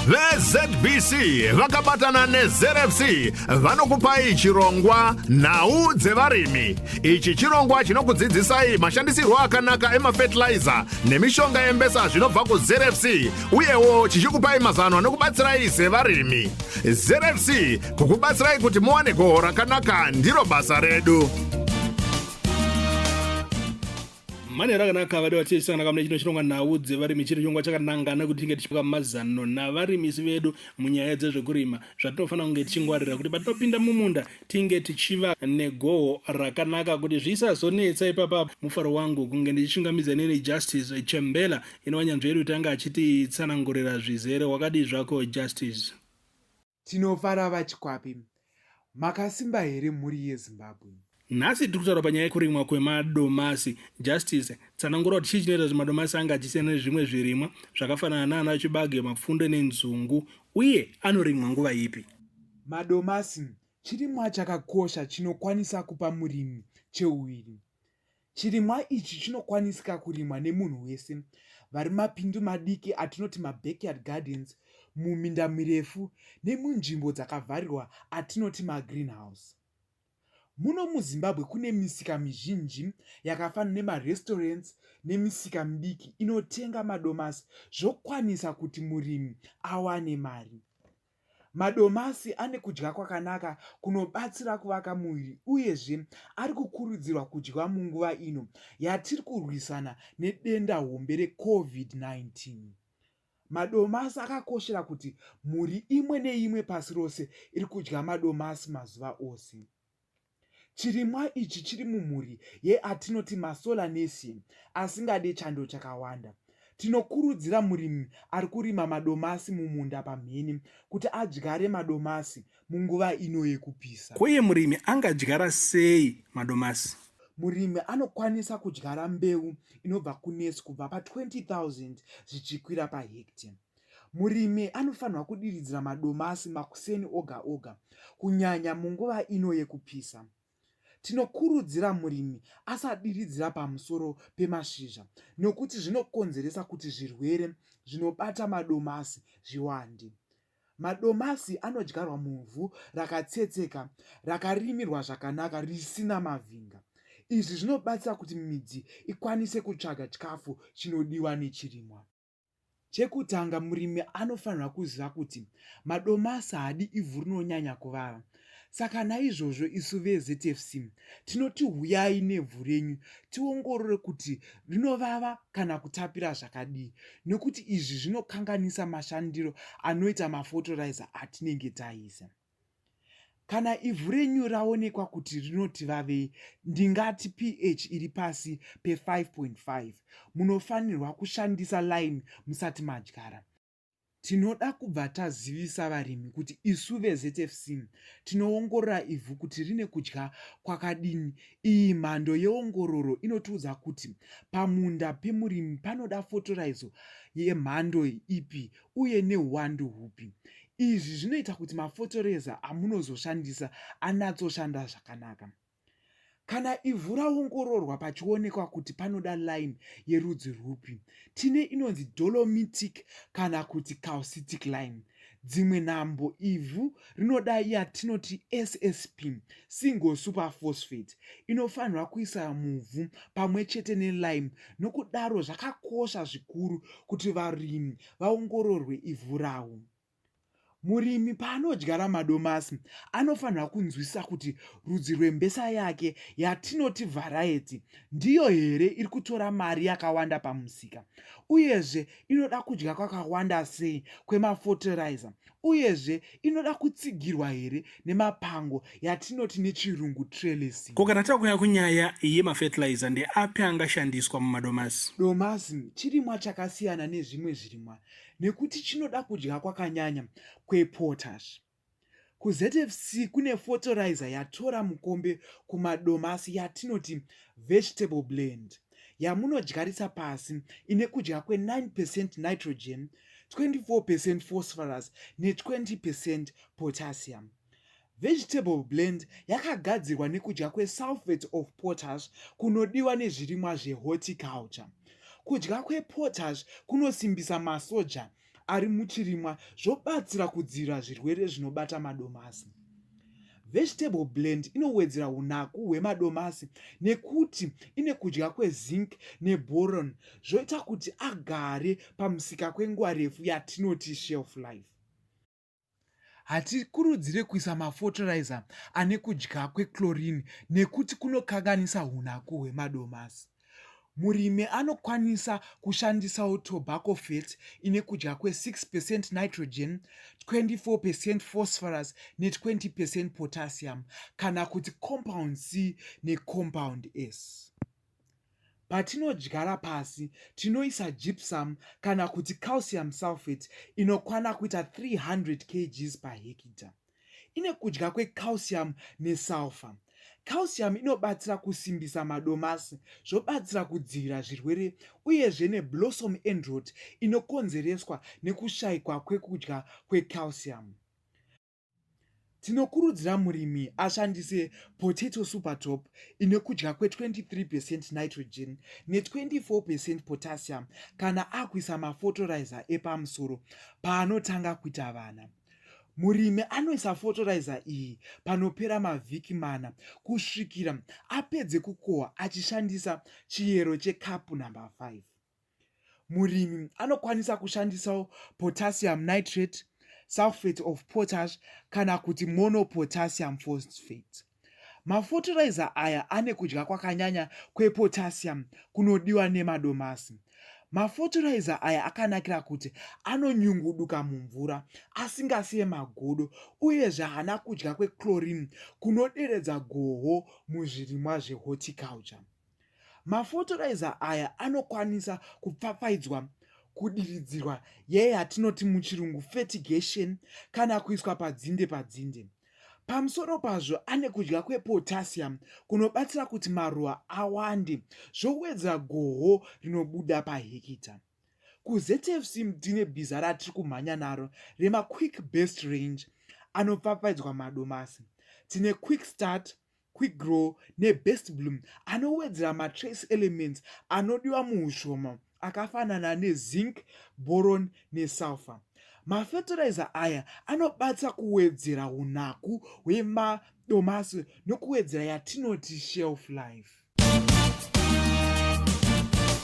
vezbc vakabatana nezrfc vanokupai chirongwa nhau dzevarimi ichi chirongwa chinokudzidzisai mashandisirwo akanaka emafetilizer nemishonga yembesa zvinobva kuzrfc uyewo chichikupai mazano anokubatsirai sevarimi zrfc kukubatsirai kuti muwane goho rakanaka ndiro basa redu manhero akanaka vadiwa tichasangana kamune chino chirongwa nhau dzevarimi chiri chirongwa chakanangana kuti tinge tichipa mazano navarimisi vedu munyaya dzezvekurima zvatinofanira kunge tichingwarira kuti patinopinda mumunda tinge tichiva negoho rakanaka kuti zvisazonetsa ipapapo mufaro wangu kunge ndichishingamidza neni justice chembela inova nyanzvi yedu tange achititsanangurira zvizere wakadii zvako justice Tinofara vaChikwape. Makasimba here mhuri yeZimbabwe? Nhasi tiri kutaura panyaya yekurimwa kwemadomasi. Justice, tsanangura kuti chii chinoita kuti madomasi ange achisiyana nezvimwe zvirimwa zvakafanana naana chibage, mapfunde nenzungu uye anorimwa nguva ipi? Madomasi chirimwa chakakosha chinokwanisa kupa murimi cheuviri Chirimwa ichi chinokwanisika kurimwa nemunhu wese vari mapindu madiki atinoti mabackyard gardens, muminda mirefu nemunzvimbo dzakavharirwa atinoti magreenhouse. Muno muZimbabwe kune misika mizhinji yakafanana nemarestaurants nemisika midiki inotenga madomasi zvokwanisa kuti murimi awane mari. Madomasi ane kudya kwakanaka kunobatsira kuvaka muviri uyezve ari kukurudzirwa kudyiwa munguva ino yatiri kurwisana nedenda hombe reCovid-19. Madomasi akakoshera kuti mhuri imwe neimwe pasi rose iri kudya madomasi mazuva ose. Chirimwa ichi chiri mumhuri yeatinoti maSolanaceae asingade chando chakawanda. Tinokurudzira murimi ari kurima madomasi mumunda pamhene kuti adyare madomasi munguva ino yekupisa. Ko iye murimi angadyara sei madomasi? Murimi anokwanisa kudyara mbeu inobva kunesi kubva pa 20 000 zvichikwira pahectare. Murimi anofanirwa kudiridzira madomasi makuseni oga oga, kunyanya munguva ino yekupisa. Tinokurudzira murimi asadiridzira pamusoro pemashizha nokuti zvinokonzeresa kuti zvirwere zvinobata madomasi zviwande. Madomasi anodyarwa muvhu rakatsetseka, rakarimirwa zvakanaka risina mavhinga. Izvi zvinobatsira kuti midzi ikwanise kutsvaga chikafu chinodiwa nechirimwa. Chekutanga murimi anofanirwa kuziva kuti madomasi haadi ivhu rinonyanya kuvava. Saka naizvozvo isu veZFC tinoti huyai nevhu renyu tiongorore kuti rinovava kana kutapira zvakadii nekuti izvi zvinokanganisa mashandiro anoita mafotoraiza atinenge taisa. Kana ivhu renyu raonekwa kuti rinoti vavei, ndingati pH iri pasi pe-5.5, munofanirwa kushandisa lime musati madyara. Tinoda kubva tazivisa varimi kuti isu veZFC tinoongorora ivhu kuti rine kudya kwakadini. Iyi mhando yeongororo inotiudza kuti pamunda pemurimi panoda fotoraizo yemhando ipi uye neuwandu hupi. Izvi zvinoita kuti mafotoreza amunozoshandisa anatsoshanda zvakanaka. Kana ivhu raongororwa pachionekwa kuti panoda lime yerudzi rwupi, tine inonzi dolomitic kana kuti calcitic lime. Dzimwe nhambo ivhu rinoda yatinoti ssp single super phosphate inofanirwa kuisa muvhu pamwe chete nelime nokudaro zvakakosha zvikuru kuti varimi vaongororwe ivhu rawo murimi paanodyara madomasi anofanirwa kunzwisisa kuti rudzi rwembesa yake yatinoti vharaiti ndiyo here iri kutora mari yakawanda pamusika uyezve inoda kudya kwakawanda sei kwemafotiraiza Uyezve, inoda kutsigirwa here nemapango yatinoti nechirungu trellising? Ko kana takuuya kunyaya yemafertilizer, ndeapi angashandiswa mumadomasi? Domasi chirimwa chakasiyana nezvimwe zvirimwa nekuti chinoda kudya kwakanyanya kwepotash. KuZFC kune fotorizer yatora mukombe kumadomasi yatinoti vegetable blend. yamunodyarisa pasi ine kudya kwe9 percent nitrogen 24 percent phosphorus ne20 percent potassium vegetable blend yakagadzirwa nekudya kwesulfate of potash kunodiwa nezvirimwa zvehorticulture kudya kwepotash kunosimbisa masoja ari muchirimwa zvobatsira kudzivirira zvirwere zvinobata madomasi. Vegetable blend inowedzera unaku hwemadomasi nekuti ine kudya kwezinc neboron zvoita kuti agare pamusika kwenguva refu yatinoti shelf life. Hatikurudzire kuisa mafotiraiza ane kudya kwechlorine nekuti kunokanganisa hunaku hwemadomasi. Murimi anokwanisa kushandisawo tobacco fat ine kudya kwe6 percent nitrogen, 24 percent phosphorus ne20 percent potassium kana kuti compound C necompound S. Patinodyara pasi tinoisa gypsum kana kuti calcium sulphate inokwana kuita 300 kgs pahekita. Ine kudya kwecalcium nesulphur. Calcium inobatsira kusimbisa madomasi zvobatsira kudzivirira zvirwere uyezve neblossom end rot inokonzereswa nekushaikwa kwekudya kwecalcium. Tinokurudzira murimi ashandise Potato Super Top ine kudya kwe-23 percent nitrogen ne-24 percent potassium kana akuisa mafotoraiza epamusoro paanotanga kuita vana. Murimi anoisa fotoraiza iyi panopera mavhiki mana kusvikira apedze kukohwa achishandisa chiyero chekapu number 5. murimi anokwanisa kushandisawo potassium nitrate sulfate of potash kana kuti monopotassium phosphate mafotiraiza aya ane kudya kwakanyanya kwepotassium kunodiwa nemadomasi mafotiraiza aya akanakira kuti anonyunguduka mumvura asingasiye magodo uyezve haana kudya kwechlorine kunoderedza goho muzvirimwa zvehorticulture Mafotoraiza aya anokwanisa kupfapfaidzwa kudiridzirwa yeyatinoti muchirungu fertigation kana kuiswa padzinde padzinde. Pamusoro pazvo ane kudya kwepotassium kunobatsira kuti maruva awande zvowedzera goho rinobuda pahekita. KuZFC tine bhiza ratiri kumhanya naro remaQuick Best Range anopfapfaidzwa madomasi. Tine Quick Start, Quickgrow neBest Bloom anowedzera matrace elements anodiwa muushoma akafanana nezinc, boron nesulfur. Mafertilizer aya anobatsira kuwedzera unaku hwemadomasi nokuwedzera yatinoti shelf life.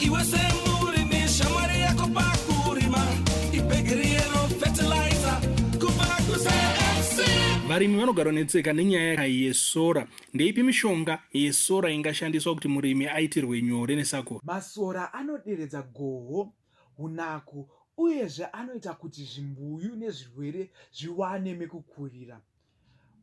Iwe semurimi shamwari yako pakurima ibhegiri yero fertilizer kubva kuCFC. Varimi vanogara netseka nenyaya yesora. Ndeipi mishonga yesora ingashandiswa kuti murimi aitirwe nyore nesakura? Masora anoderedza goho, hunaku uyezve anoita kuti zvimbuyu nezvirwere zviwane mekukurira.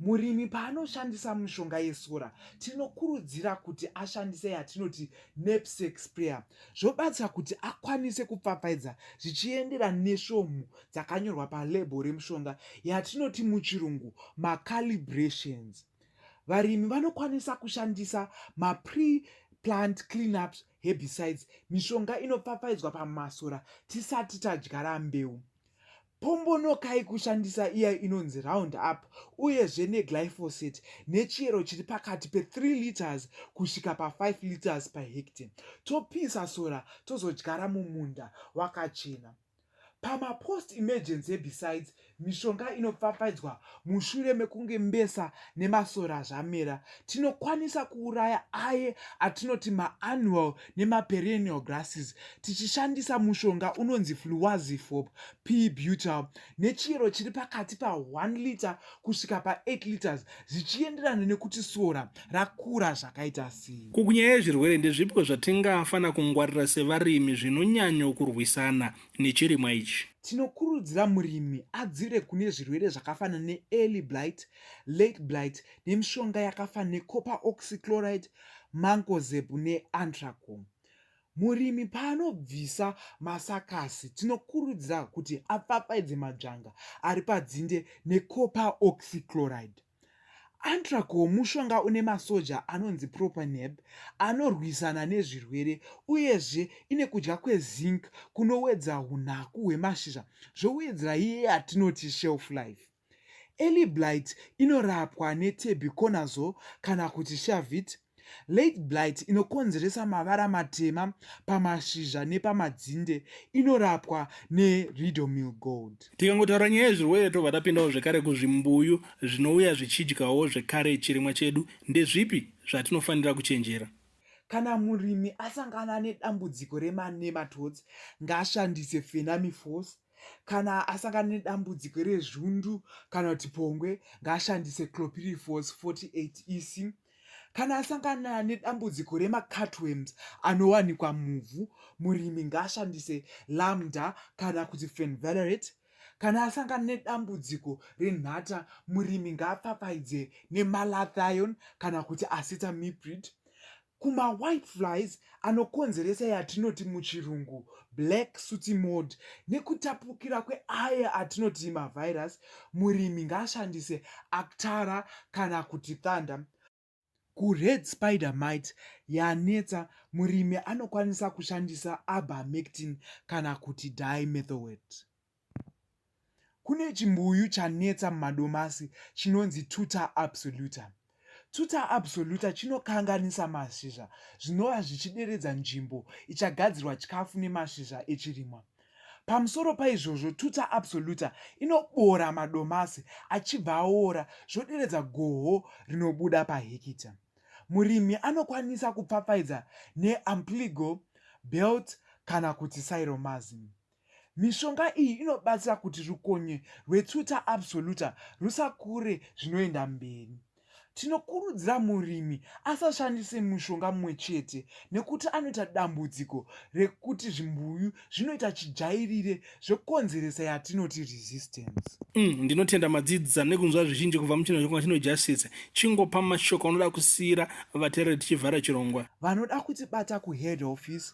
Murimi paanoshandisa mishonga yesora tinokurudzira kuti ashandise yatinoti knapsack sprayer zvobatsira kuti akwanise kupfapfaidza zvichiendera nesvomhu dzakanyorwa palebho remushonga yatinoti muchirungu macalibrations. Varimi vanokwanisa kushandisa mapre plant cleanups herbicides mishonga inopfapfaidzwa pamasora tisati tadyara mbeu. Pombonokai kushandisa iya inonzi round up uyezve neglyphosate nechiyero chiri pakati pe3 liters kusvika pa5 liters per hectare. Topisa sora tozodyara mumunda wakachena. Pamapost emergency herbicides mishonga inopfapfaidzwa mushure mekunge mbesa nemasora zvamera. Tinokwanisa kuuraya aye atinoti maannual nemaperennial grasses tichishandisa mushonga unonzi fluwazifop p butal nechiyero chiri pakati pa1 liter kusvika pa8 liters zvichienderana nekuti sora rakura zvakaita sei kukunyaya yezvirwere ndezvipiko zvatingafanira kungwarira sevarimi zvinonyanyo kurwisana nechirimwa ichi tinokurudzira murimi adzivire kune zvirwere zvakafanana neearly blight late blight nemishonga yakafanana necoper oxychloride Mancozeb neAntracom. Murimi paanobvisa masakasi tinokurudzira kuti apfapfaidze madzvanga ari padzinde necopper oxychloride. Antracom mushonga une masoja anonzi propaneb anorwisana nezvirwere uyezve ine kudya kwezinc kunowedza unaku hwemashizha zvowedzera iye yatinoti shelf life. Early blight inorapwa netebuconazole kana kuti shavit. Late blight inokonzeresa mavara matema pamashizha nepamadzinde inorapwa neridomil gold. Tikangotaura nyaya yezvirwere tobva tapindawo zvekare kuzvimbuyu zvinouya zvichidyawo zvekare chirimwa chedu. Ndezvipi zvatinofanira kuchenjera? Kana murimi asangana nedambudziko rema nematodes ngaashandise fenamiforce kana asangana nedambudziko rezvundu kana kuti pongwe ngaashandise clopirifos 48 ec kana asangana nedambudziko remacatworms anowanikwa muvhu murimi ngaashandise lambda kana kuti fenvalerate kana asangana nedambudziko renhata murimi ngaapfapfaidze nemalathion kana kuti acetamiprid Kuma white flies anokonzeresa yatinoti muchirungu black sooty mold nekutapukira kweaya atinoti mavirus, murimi ngaashandise Actara kana kuti Thunder. KuRed spider mite yanetsa, murimi anokwanisa kushandisa Ivermectin kana kuti Dimethowet. Kune chimbuyu chanetsa mumadomasi chinonzi tuta absoluta. Tuta absoluta chinokanganisa mashizha zvinova zvichideredza nzvimbo ichagadzirwa chikafu nemashizha echirimwa. Pamusoro paizvozvo, tuta absoluta inobora madomasi achibva aora zvoderedza goho rinobuda pahekita. Murimi anokwanisa kupfapfaidza neAmpligo, Belt kana kuti Cyromazim. Mishonga iyi inobatsira kuti rukonye rwetuta absoluta rusakure zvinoenda mberi. Tinokurudzira murimi asashandise mushonga mumwe chete nekuti anoita dambudziko rekuti zvimbuyu zvinoita chijairire zvokonzeresa yatinoti resistance. Mm, ndinotenda madzidzisa nekunzwa zvizhinji kubva muchinazvokunga chino justice chingopa mashoko anoda kusiyira vatereri tichivhara chirongwa vanoda kutibata kuhead office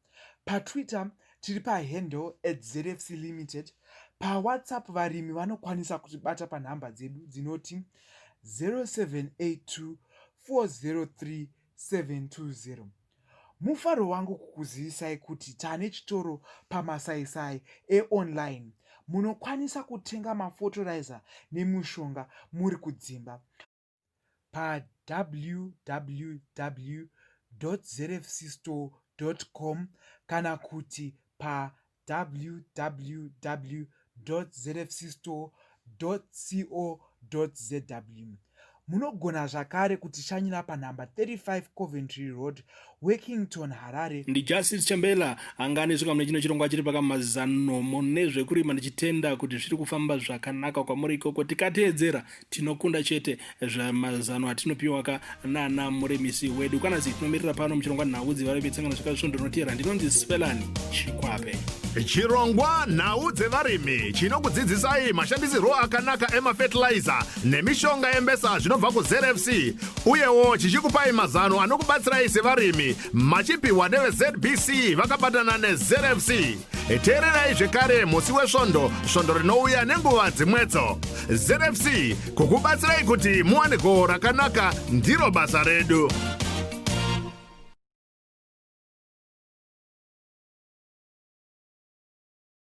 PaTwitter tiri pahandle at ZFC Limited. PaWhatsApp varimi vanokwanisa kutibata panhamba dzedu dzinoti 0782 403 720. Mufaro wangu kukuzivisai kuti tane chitoro pamasaisai eonline munokwanisa kutenga mafotorizer nemushonga muri kudzimba. pawww.zfcstore.com kana kuti pawww.zfcstore.co.zw. Munogona zvakare kutishanyira panhamba 35 Coventry Road, Workington, Harare. NdiJustice Chembela angani zvika mune chino chirongwa chiri pakamazano mune zvekurima ndichitenda kuti zviri kufamba zvakanaka kwamuri ikoko tikateedzera tinokunda chete zvamazano atinopiwa ka nana murimisi wedu kana zi tinomirira pano muchirongwa nhau dzevari vetsangano zvika svondo rinotevera ndinonzi Spelani Chikwape. Chirongwa nhau dzevarimi chinokudzidzisai mashandisirwo akanaka emafertilizer nemishonga yembesa zvinobva kuzrfc uyewo chichikupai mazano anokubatsirai sevarimi machipiwa nevezbc vakabatana nezrfc teererai zvekare musi wesvondo svondo rinouya nenguva dzimwedzo zrfc kukubatsirai kuti muwane goho rakanaka ndiro basa redu